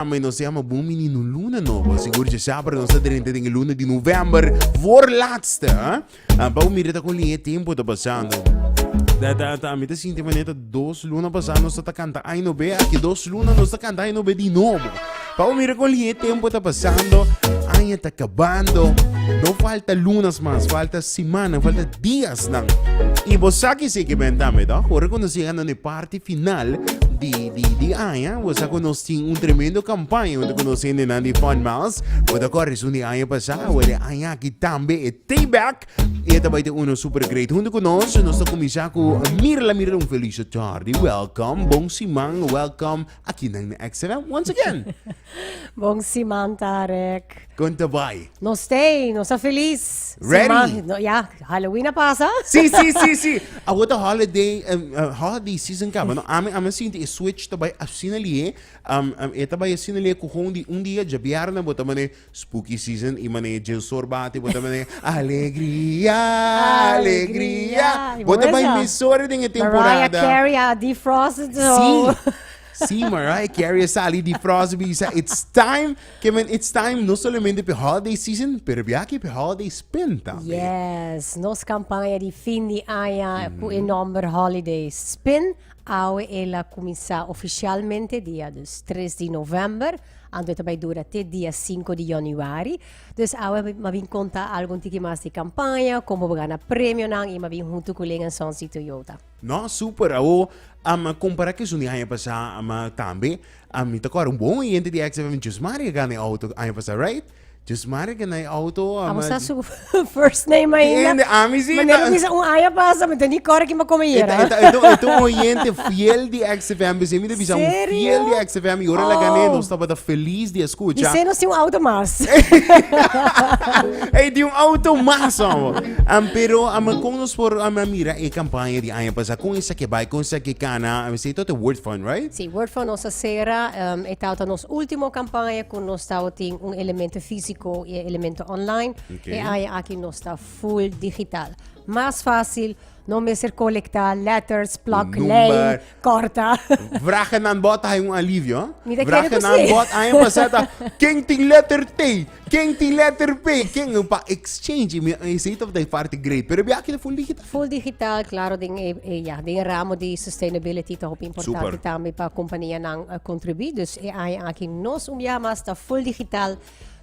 Ama e nos ta yama bon mininu luna nobo, sigur dje sabra nos ta drenta den e luna di november for laatste ha, pa bo mira ta koling e tempo ta pasando ta ta ta mi ta sinti manera ta dos luna pasa nos ta ta kanta ai no be aki dos luna nos ta kanta ai no be di nobo pa bo mira koling e tempo ta pasando aña ta kabando no falta lunas mas falta simannan falta diasnan i bo sa kisikibentame ta ora ku nos yega na no e par. ti final di, di, di aña, bo sa cu nos tin un tremendo campaña unde cu nos hendenan di Fun Miles, bo ta corre esun di aña pasá, bo di aña aki tambe e take back y e ta bay ta uno super great. Hunto cu nos, nos ta cuminsá cu Mirla, Mirla un felice tardi, welcome, bon siman, welcome. Aki nan na Exeter once again. Bon siman Tarek. Kon ta bai? No stay, no sa feliz. Ready? Siman, no, ya, Halloween a pasa. Si, si, si, si. A wota holiday, um, uh, holiday season kaba. No, ame, ame sinti e switch ta bai asina lie. Um, um, e ta bai asina lie ku hon di un dia, ja biarna, bota mane, Spooky season i mane Jensor bati bo ta mane alegria alegria Alegria. bo ta bai Buena. mesora den e Mariah temporada Carey a defrost zo. Sí, sí, Mariah Carey a sali di frost bisa it's time ke men it's time no solamente pe holiday season pero biaki pe holiday spin tambe. Yes, nos campaña di fin di aña cu e nomber Holiday Spin. Awe el a cuminsa oficialmente dia dus tres di november. Anto e ta bai dura te dia sinku di yònuari. Dus awe mi a bin konta algu un tiki mas di kampaña, kon bo bo gana premionan i mi a bin huntu ku Ling en Sons di Toyota. No, super! Awo, am kompará ku esun di aña pasá, ma tambe ami ta kòrda un bon oyente di XFM djosmari a gana e outo aña pasá, right? Just marca na e auto. Abo sa su first name ainda. Ende, ami si. Manera ku bisa un aña pasa, mi ta ni kòrda kiba kome i era. E ta un oyente fiel di XFM. Biseo mi ta bisa un fiel di XFM i ora laga n'e nos tabata felis di a skucha. Biseo nos tin un auto mas. Ey tin un auto mas amo. Pero amo kon nos por mira e kampaña di aña pasa kon esaki bai, kon esaki kana. Mi si ito ta Word Fund, right? Si, Word Fund nos a sera. E tabata nos último kampaña. Nos tao tin un elemento físico y e elemento online. Okay. E aña aki nos ta full digital. Mas fácil, no mester colecta letters, plak, Number. lijn, corta. Vragen aan bod hay un alivio. Huh? Mi te quiere Vragen aan precies. bod aña pasada. Ken tin letter T? Ken tin letter P? Ken pa exchange? Mi ese top da parte great. Pero bia aquele full digital. Full digital claro den e ya den e ramo di sustainability ta hopi importante Super. tambe pa compania nan a contribui dus e aña aki nos un biaha mas ta full digital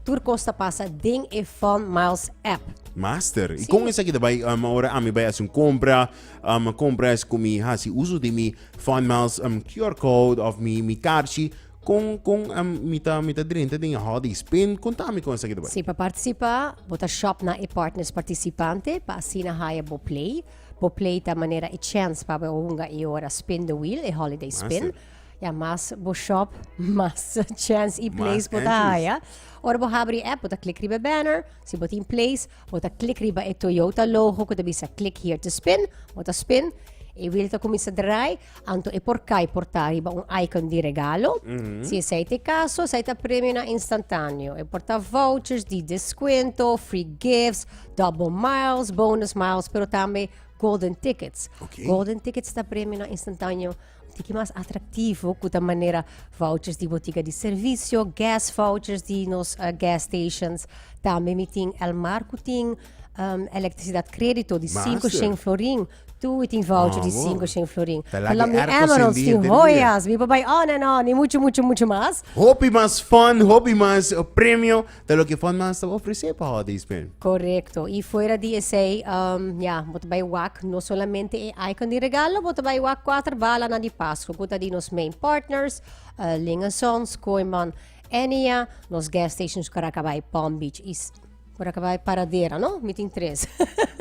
tur cos ta pasa den e Fun Miles app. Master, y Sí. con esaki ta bay, um, ahora ami bay haci un compra, um, compra es cu mi haci uso di mi Fun Miles um, QR code of mi, mi carchi, Kon kon a mi ta mi ta drenta den e hòdei spin kon ta mi kon saki ta bai? Si pa partisipa bo ta shòp na e partners partisipante pa asina haya bo play. Bo play ta manera e chèns pa bo e hunga i ora spin the wheel e holiday spin. Mester. Ya mas bo shòp mas chèns i plays Mas bo ta entries. haya. Ora bo habri e app bo ta klik riba e banner, si bo tin plays bo ta klik riba e Toyota logo ku ta bisa click here to spin, bo ta spin e wheel ta kuminsa drai. Anto e por kai por ta riba un icon di regalo. Si esei ta e kaso, esei ta premio na instantáneo. E por ta vouchers di deskuento, free gifts, double miles, bonus miles, pero tambe golden tickets. Oké. Golden tickets ta premio na instantáneo un tiki mas atraktivo ku ta manera vouchers di botiga di servisio, gas vouchers di nos gas stations. Tambe mi tin El Mar ku tin elektrisidat krédito di sinku Master. shen florin. Tuwi tin voucher di sinku shen florin. Ta lak Lam di di airco Emeralds sindi tin henter hooi dia. as. Mi pa bai on en on i muchu muchu muchu mas. Hopi mas fun, hopi mas premio ta loke Fun Mass ta ofrece pa holiday spin. Korekto. I fuera di esei, um, ya, bo ta bai wak no solamente e icon di regalo, bo ta bai wak kuater balanan di Pasko ku ta di nos main partners, eh, Ling a Sons, Kooiman, Enia, nos gas stations Caracabai, Palm Beach i. Curaca bay paradera no mi tin tres.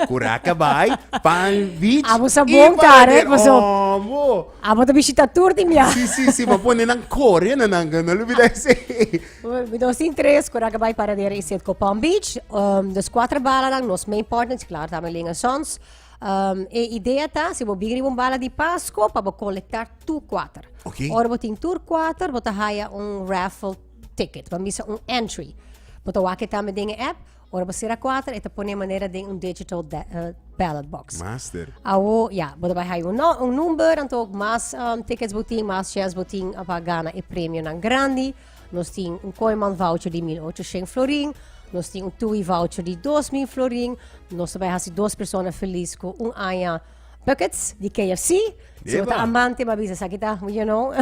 Curaca bay pan beach. Abo sa bon karen paso. Abo. Abo ta bishita tur tin bia. Si si si ma pone nan kore na nan no lo bida ese. Mi dos tin tres curaca bay paradera y set ko pan beach um dos cuatro bala nan nos main partners claro ta Amelin and sons um e idea ta si bo bin riba un bala di pasco pa bo colecta tur cuater. Okay. Ora bo tin tur cuater bo ta haya un raffle. ticket, lo misa un entry. Bo ta wak e tambe den e app, ora bo sera kuater e ta pone manera den un digital ballot box. Master. Awo, ya, bo ta bai haya un un number, anto mas tickets bo tin, mas chance bo tin pa gana e premionan grandi. Nos tin un Kooiman voucher di mil ocho shèn florin, nos tin un TUI voucher di dos mil florin, nos ta bai hasi dos persona felis ku un aña Buckets di KFC. Si bo ta amante, ma bisa, esaki ta, you know,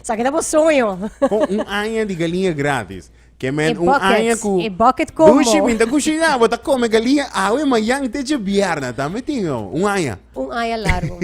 esaki ta bo soño. Con un aña di galiña gratis. Ke men, E un buckets, aña ku... e bucket combo. Dushi minta kushina, bo ta kome galiña awe mañan te dje bièrna. Tambe tin, o. Un aña. Un aña largu.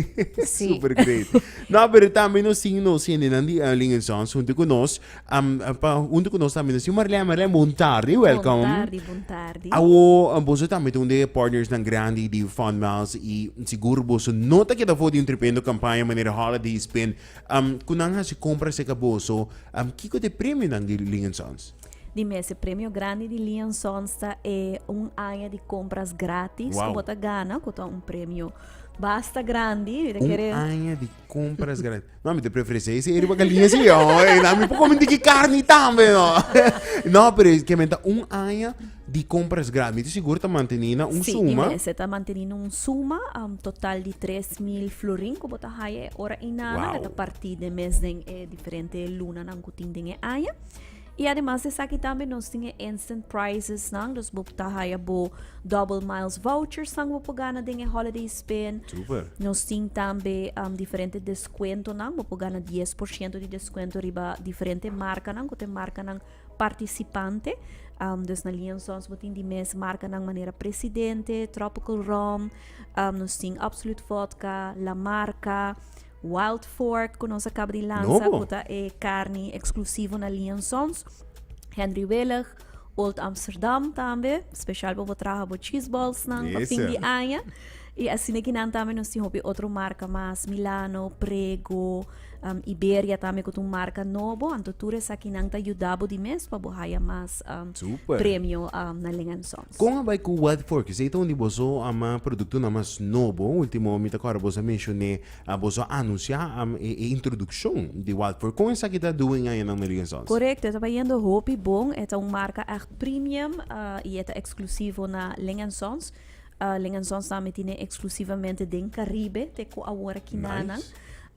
Sí. Super great. No, pero tambe nos tin nos hendenan di Erling en Sons huntu ku nos. Am pa huntu ku nos tambe si Marlèn Marlèn bon tardi welkom. Bon tardi bon tardi. Awo boso tambe ta un di e partnersnan grandi di Funmiles i sigur boso no ta keda for di un tremendo kampaña manera Holiday Spin am ku nan hasi kompra serka boso am kiko ta e premionan di Lee and Sons? Di mes e premio grandi di Lee and Sons ta e un aña di kompras gratis ku Wow. bo ta gana ku ta un premio basta grandi mi ta Un kere aña di Compra es gratis. No, mi te preferencia ese eri baka linha si. Na mi poco minti ki carne tambe, no. No, pero es que menta un aña di compra es gratis. Mi te seguro ta manteni na un suma. Si, mester ta manteni na un suma um, total di tres mil florin ku bo ta haya e ora inana. Wow. Ta parti den mes den e diferente lunanan ku tin den e aña. Y ademas di esaki tambe nos tin e instant prizes nan, dus bo ta haya bo double miles vouchers nan bo por gana den e holiday spin. Super. Nos tin tambe um, diferente descuentonan, bo por gana 10% di descuento riba diferente marcanan, cu te marcanan participante. Um, dus na Liansons bo tin di mes marcanan manera Presidente, Tropical Rum, um, nos tin Absolute Vodka, La Marca, Wild Fork ku nos a kaba di lansa ku ta e karni eksklusivo na Lee and Sons, Henry Willig, Old Amsterdam tambe, spesial pa bo traha bo cheese balls nan pa fin di aña. I asina kinan tambe nos tin hopi otro marka mas, Milano, Prego, Iberia tambe ku ta un marka nobo, anto tur esakinan ta yuda bo di mes pa bo haya mas premio na Ling and Sons. Con a bay cu Wild Forkis? Ey ta un di boso productonan mas nobo. Ultimo mi ta cora boso a mencion'e, boso a anuncia e introduccion di Wild Forkis. Con esaki ta doe un añanan na Ling and Sons? Correcto, e ta bayendo hopi bon. E ta un marca echt premium y e ta exclusivo na Ling and Sons. Ling and Sons ta meti'ne exclusivamente den Caribe te cu awor aki nanan.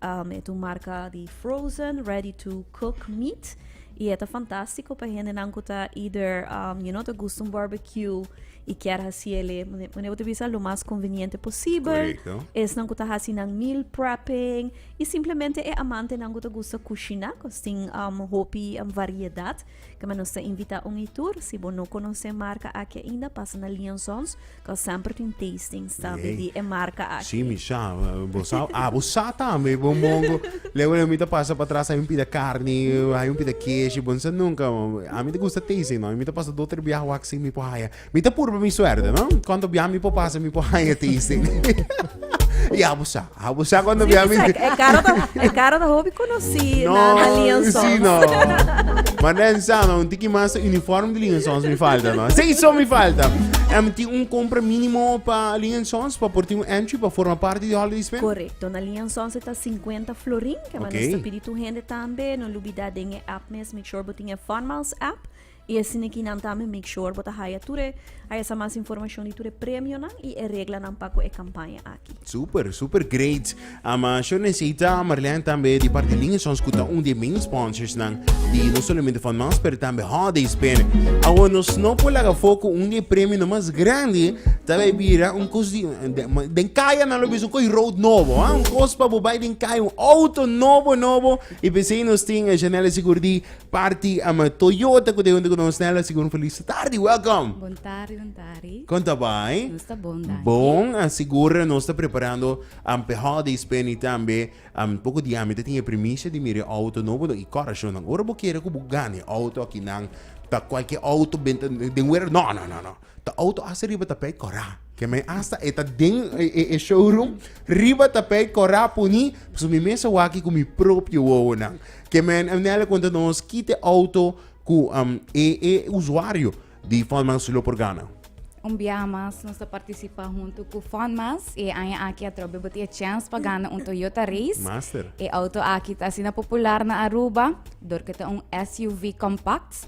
Um, e tu marca di frozen, ready to cook meat. Y e ta fantástico pa hende nan ku ta either, um, you know, ta gusta un barbecue y kier hasi ele, mane bo te bisa, lo mas conveniente posible. Correcto. Es nan ku ta hasi nan meal prepping. Y simplemente e amante nan ku ta gusta kushina, kos tin um, hopi um, variedad. Kema nos ta invita un i tur, si bo no konosé marka aki ainda, pasa na Lee and Sons, kua semper tin tastings tambe di e marka aki. Sí, Misha, bo sa, ah, bo sa tambe, bo mongo. Lego lo mi ta pasa patras, hay un pida carni, hay un pida keshi, bo no sa nunka. Ami ta gusta tasting, no, mi ta pasa do, tre biaha wak sin mi por haya. Mi ta purba mi suerte, no? Cuando bia mi por pasa, mi por haya tasting. y abusa, abusa cuando bia mi. E caro ta, e caro ta hobby conocí no, na, na lienzo. Sí, no. Maar dan samen, un tiki mas uniform de liensons mi falta, no? Sí, so mi falta. Em ti un compra mínimo pa liensons, pa por ti un entry, pa forma parte de holiday spend? Correcto, na liensons ta 50 florin, que okay. mas pidi tu hende tambe, no lubida den e app mes, make sure botin e Funmiles app, I e sinikinan tambe make sure bo ta haya tur e haya sa mas informashon di tur e premionan i e reglanan pa ku e kampaña aki. Super, super great! Am a sho nesita Marlijn tambe di parti Lingesons ku ta un di e main sponsorsnan di no solamente Van Maas pero tambe Holiday Spin. Awo nos no por laga afó ku un di e premionan mas grandi ta bai bira un kos di den kaya nan lo bisa un koi road nobo a un kos pa bo bai den kaya un outo nobo nobo i p'esei nos tin Janelle Sigurdi Party ama Toyota ku ta junto ku nos Nela Sigun Feliz tardi welcome Bon tardi, bon tardi. Kon ta bai? Nos ta bon, danki. Bon, a sigur nos ta preparando am pe holiday spending tambe. Am poko dia mi ta tin e primicia di mira e auto nobo no i coracionnan. Ora bo kere ku bo gana e auto akinan ta cualkier auto benta den wera no no no no. Ta auto asta riba tapey kora. Kemey asta e ta den e e showroom riba tapey kora puni pasobra mi mester wak ku mi propio wowonan. Kemey an Nel a konta nos kit e auto ku e e usuario di Fundmas lo por gana. Un biaha mas nos ta partisipa huntu ku Fundmas i e aña aki atrobe bo tin e chèns pa gana un Toyota Race. Master. E auto aki ta asina popular na Aruba dor ku ta un SUV compact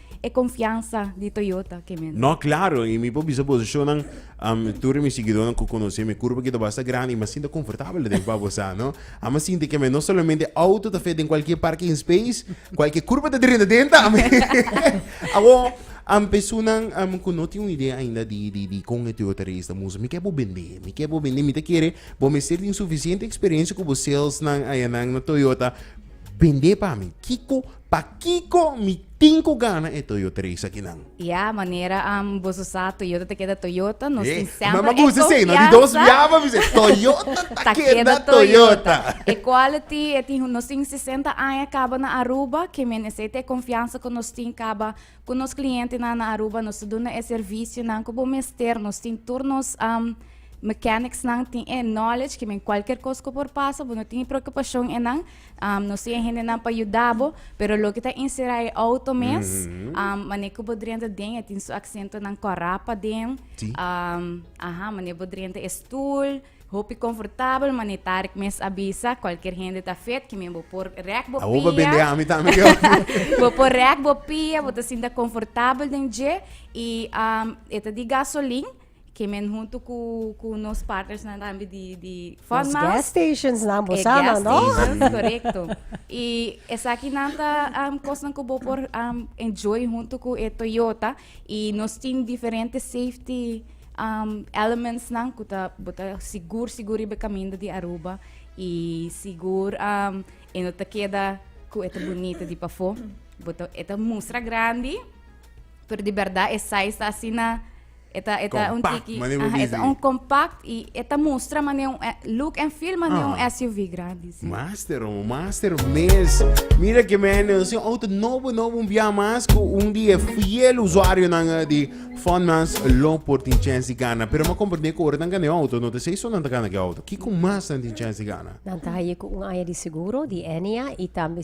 e konfiansa di Toyota kimin. No, klaro, i mi por bisa boso shownan, um, tur di mi siguidónan ku konosé mi kurpa ki ta basta grandi i mi a sinta konfortabel aden pa bosá, no? Ami a sinti ke mi no solamente outo ta fe den kualke parking space, kualke kurpa ta drenta den ta, ami. Awor, um, pesunnan, um, ku no tin un idea ainda di, di, di kon e Toyota Race ta mustra, mi ke bo bend'é, mi ke bo bend'é, mi ta kere bo mester tin sufisiente eksperensia ku bo salesnan ayanan na Toyota, bend'é pa mi. Kiko. Pakiko mi tin ku gana e Toyota Race akinan? Ya, manera am boso sa Toyota ta keda Toyota, nos tin semper e konfiansa. Mi gusta esei, no? Di dos biaba mi se Toyota ta keda Toyota. E quality, e tin, nos tin sesenta aña kaba na Aruba, ke men esei ta e konfiansa ku nos tin kaba ku nos klientenan na Aruba. Nos ta duna e servisionan ku bo mester, nos tin tur nos mechanicsnan tin e knowledge ke men kualker kos ku por pasa bo no tin e preokupashon enan. Um, nos tiene gente nan pa yudabo, pero lo que ta encerrado e auto mes, mm -hmm. um, mane que bodrenta den, e tin su accento nan corapa den, sí. um, aha, mane bodrenta e stoel, hopi confortabel, mane tarik mes avisa, cualquier gente ta fet, que men bo por rek bo pia. Awoba bende ami tami que Bo por rek bo pia, bo ta sinta confortabel den je, y um, eta di gasoline, Kemen huntu ku ku nos partnersnan tambe di di Nos gas stationsnan bo sa nan, no? E gas stations, korekto. I esaki nan ta kosnan ku bo por enjoy huntu ku e Toyota i nos tin diferente safety elementsnan ku ta bo ta sigur sigur riba e kaminda di Aruba i sigur e no ta keda ku e ta bunita di pafó. Bo ta e ta mustra grandi pero di bèrdat e size ta asina. E ta e ta un Compact, tiki mane bo aha e ta bizi. un compact y e ta mustra mane un eh, look and feel mane un Ah. SUV grandi si. Master, oh, master mes. Mira que men, eh, sin auto nobo, nobo, un via mas cu un di e fiel usuario nan eh, di Funmans lo por tin chance di gana. Pero ma comprende cu ora nan gana e auto, no te sei so nan ta gana ki auto. Kiko mas nan tin chance di gana? Nan ta haye cu un aña di seguro di Enia y tambe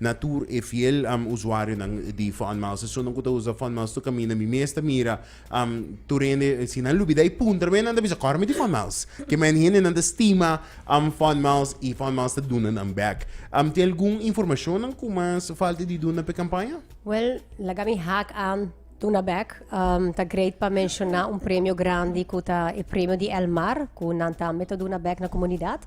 Na tur e fiel um usuarionan di Funmaster, esunnan cu ta usa Funmaster caminda mi mes ta mira um tur hende si nan lubida e puntra me nan ta bisa cor mi di Funmiles, ke men hendenan ta stima um Funmiles y Funmiles ta duna nan back. Um tin algun informacionnan cu mas falta di duna p'e campaña? Well, laga mi hak aan. Tuna bek ta great pa menshona un premio grandi ku ta e Premio di El Mar ku nan tambe ta duna bek na komunidat.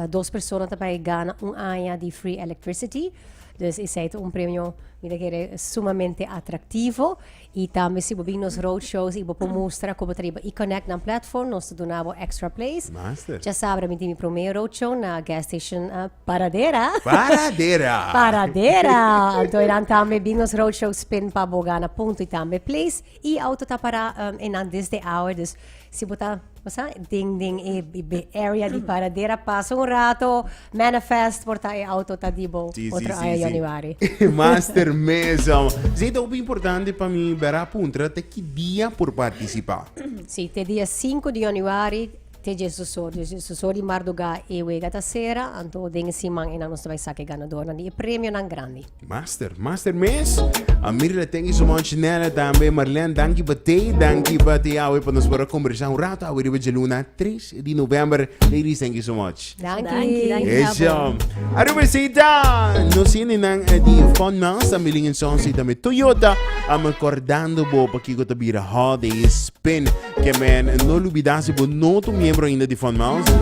Dos persona ta bai gana un aña di free electricity. Dus esei ta un premio mi ta kere sumamente atraktivo. I tambe si bo bin nos roadshows i bo por mustra komo ta riba E-Connect nan platform nos ta duna bo extra place. Master. Dja sabi mi tin mi promé roadshow na gas station Paradera. Paradera. Paradera. Anto e nan tambe Bingos Roadshow spin pa bo gana punto y tambe place. Y auto ta para um, e nan desde hour. Dus si bo ta, bo sa, den, den e, e be- area di Paradera, pasa un rato, manifest por ta e auto ta di bo. Sí, sí, Otro sí, año sí. januari. Master Mesa. Ze ta hopi importante pa mi bera puntra te ki dia por participa. Sí, te dia 5 di januari. te Jesus or. Di Jesus or di mardugá e wega ta sera, anto den e siman einan nos ta bai saka e ganadornan di e premionan grandi. Master, master mes. A Mirla thank you so much, Nella tambe, Marlene danki pa te, danki pa te awe pa nos por a kombersá un rato awe riba dje luna tres di november. Ladies thank you so much. Danki. Eso. Aru besita. No sini nan eh, di Fun Mouse, tambe Lingen Sons y tambe Toyota. Am recordando bo pa kiko ta bira Holiday Spin. Que men no lubida si bo no tu miembro ainda di Fun Mouse.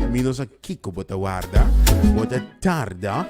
Mi no sa kiko bo ta warda. Bo ta tarda.